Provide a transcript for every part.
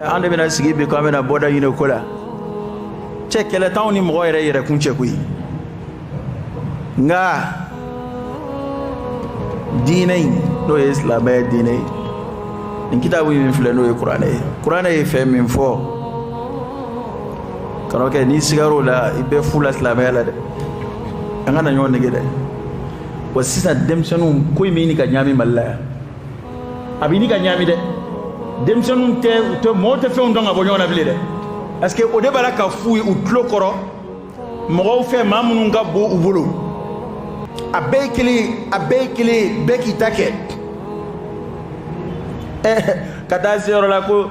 an de bɛna sigi bi ko an bɛna bɔda ɲini ko la cɛ kɛlɛ t'anw ni mɔgɔ yɛrɛ yɛrɛkun cɛ koyi nka diinɛ in n'o ye silamɛya diinɛ ye nin kitabu min filɛ n'o ye kuranɛ ye kuranɛ ye fɛn min fɔ kan'o kɛ n'i sigar'o la i bɛ fu la silamɛya la dɛ an kana ɲɔgɔn nɛgɛn dɛ wa sisan denmisɛnninw ko in bɛ ɲini ka ɲagami mali la yan a bɛ ɲini ka ɲaami dɛ denmisɛnninw tɛ tɛ mɔgɔw tɛ fɛnw dɔn ka bɔ ɲɔgɔn na bilen dɛ parce que o de b'a la k'a f'u ye u tulo kɔrɔ mɔgɔw fɛ maa minnu ka bon u bolo a bɛɛ ye kelen ye a bɛɛ ye kelen ye bɛɛ k'i ta kɛ ka taa se yɔrɔ la ko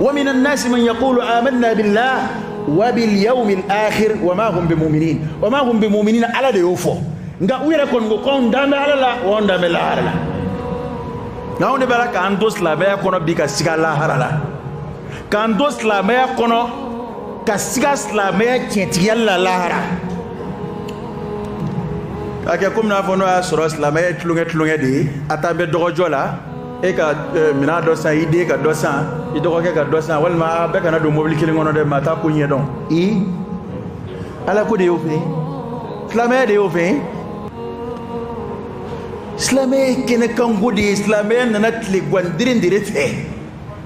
wa minan nasi man yaqulu amanna billah wa bil yawmil akhir wa ma hum bimu'minin wa ma hum bimu'minin ala de y'o fɔ nka u yɛrɛ kɔni ko ko anw dannen bɛ ala la wa anw dannen bɛ lahara la nka anw de b'a la k'an to silamɛya kɔnɔ bi ka siga lahara la k'an to silamɛya kɔnɔ ka siga silamɛya tiɲɛtigiya la lahara k'a kɛ komi i n'a fɔ n'o y'a sɔrɔ silamɛya ye tulonkɛ tulonkɛ de ye a t'an bɛ dɔgɔjɔ la e ka minɛn dɔ san i den ka dɔ san i dɔgɔkɛ ka dɔ san walima a bɛɛ kana don mobili kelen kɔnɔ dɛ maa t'a ko ɲɛdɔn i ala ko de y'o fɛ silamɛya de y'o fɛ silamɛya ye kɛnɛkanko de ye silamɛya nana tile gandirin de de fɛ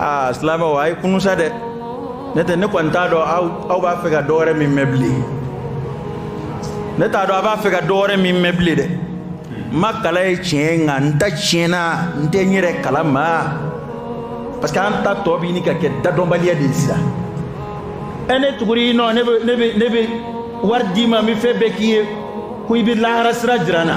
aa silamɛw a ye kunun sa dɛ ne tɛ ne kɔni t'a dɔn aw aw b'a fɛ ka dɔ wɛrɛ min mɛn bilen ne t'a dɔn a b'a fɛ ka dɔ wɛrɛ min mɛn bilen dɛ n ma kalan ye tiɲɛ nka n ta tiɲɛna n tɛ n yɛrɛ kala ma parce que an ta tɔ bɛ ɲini ka kɛ dadɔnbaliya de ye sisan ɛ ne tugur'i nɔ ne bɛ ne bɛ ne bɛ wari d'i ma n bɛ fɛn bɛɛ k'i ye ko i bɛ lahara sira jira n na.